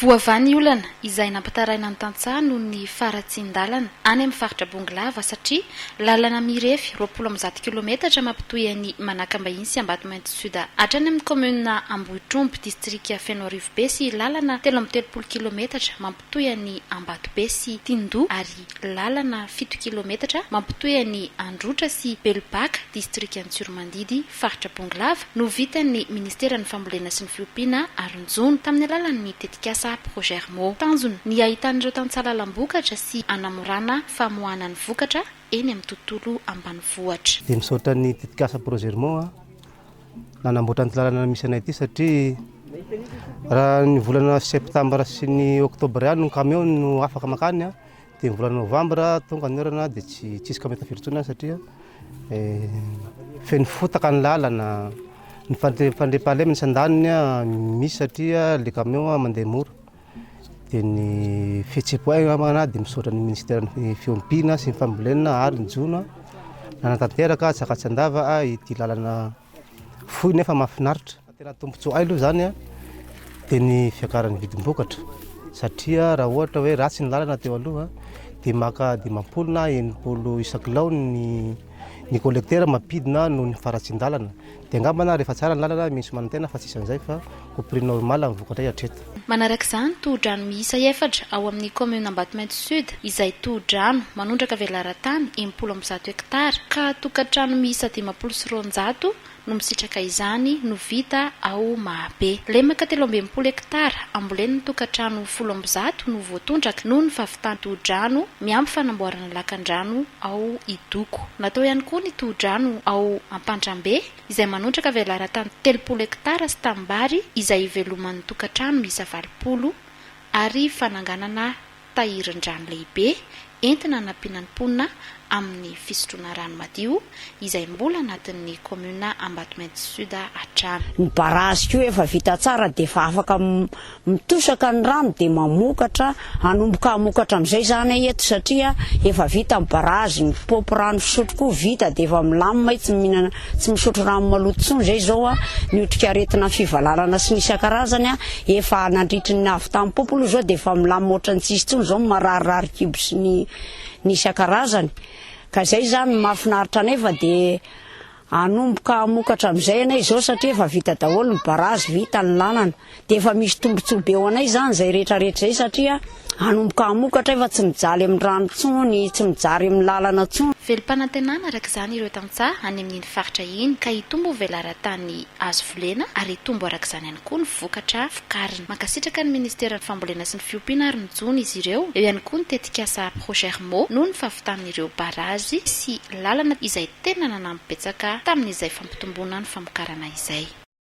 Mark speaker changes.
Speaker 1: Voavaha ny olana izay nampitaraina ny tantsaha noho ny faharatsian-dalana any amin'ny faritra Bongolava satria lalana mirefy roapolo amby zato kilometatra mampitohy an'i Manakambahiny sy Ambatomainty Sud hatrany amin'ny kaominina Ambohitromby, distrika Fenoarivobe sy lalana telo amby telopolo kilometatra mampitohy an'i Ambatobe sy Tindoha ary lalana fito kilometatra mampitohy an'i Androtra sy Belobaka, distrikan'i Tsiromandidy, faritra Bongolava, no vitan'ny Ministeran'ny Fambolena sy ny Fiompiana Aronjono, tamin'ny alalan'ny tetikasa Progermo. Tanjona, ny hahitan'ireo tantsaha lalam-bokatra sy hanamorana famoahana ny vokatra eny amin'ny tontolo ambanivohitra. Dia misaotra ny
Speaker 2: tetikasa Progermo. nanamboatra an'ity lalana misy anay ity satria raha ny volana septambra sy ny oktobra ihany ny kamiao no afaka makany dia ny volana novambra tonga ny orana dia tsy tsy misy kamiao tafiditra intsony any satria feno fotaka ny lalana, ny fandriampahalemana tsy andaniny misy satria ilay kamiao mandeha mora. dia ny fihetseham-po ay angambany aho dia misaotra ny minisiteran'ny fiompiana sy ny fambolena ary ny jono nanatanteraka tsaka tsy andava a ity lalana fohy nefa mahafinaritra tena tombontsoa ay aloha izany a dia ny fiakaran'ny vidim-bokatra satria raha ohatra hoe ratsy ny lalana teo aloha dia maka dimampolo na enimpolo isakilao ny ny kolektera mampidina noho ny faharatsian-dalana Dia angamba na rehefa tsara ny lalana misy manantena fa tsy isan'izay fa ho prix normal ny vokatra hatreto. Manaraka izany,
Speaker 1: tohodrano miisa efatra ao amin'ny kaominina Ambatomainty Sud izay tohodrano manondraka velaran-tany enimpolo amby zato hektara ka tokantrano miisa dimampolo sy roanjato no misitraka izany no vita ao Mahabe. Lemaka telo amby enimpolo hektara ambolen'ny tokantrano folo amby zato no voatondraka noho ny fahavitan-tohodrano miampy fanamboarana Lakandrano ao Idoko. Natao ihany koa ny tohodrano ao Ampantrambe izay manondraka velaran-tany telopolo hektara sy tanimbary izay hiveloman'ny tokantrano miisa valopolo ary fananganana tahirin-drano lehibe entina hanampiana ny mponina amin'ny fisotroana rano madio izay mbola anatin'ny kaominina Ambatomainty Sud hatrany. Ny barazy koa
Speaker 3: efa vita tsara dia efa afaka mitosaka ny rano dia mamokatra, hanomboka hamokatra amin'izay izany eto satria efa vita ny barazy, ny paopy rano fisotro koa vita dia efa milamina io, tsy mihinana, tsy misotro rano maloto intsony izay izao, ny otrikaretina fivalalana sy ny isan-karazany efa nandritry ny avy tamin'ny paopy aloha izao dia efa milamina ohatran'ny tsisy intsony izao ny mararirary kibo sy ny ny isan-karazany. Ka izay izany no mahafinaritra anay fa dia hanomboka hamokatra amin'izay ianay izao satria efa vita daholo ny barazy, vita ny lalana. Dia efa misy tombontsoa be ho anay izany izay rehetrarehetra izay satria hanomboka hamokatra efa tsy mijaly amin'ny rano intsony, tsy mijary amin'ny lalana intsony. Velom-panantenana araka
Speaker 1: izany ireo tantsaha any amin'iny faritra iny ka hitombo velaran-tany azo volena ary hitombo araka izany ihany koa ny. koa ny vokatra vokariny. Mankasitraka ny Ministeran'ny Fambolena sy ny Fiompiana ary mijono izy ireo, eo ihany koa ny tetikasa Progermo noho ny fahavitan'ireo barazy sy lalana izay tena nanampy betsaka tamin'izay fampitomboana ny famokarana izay.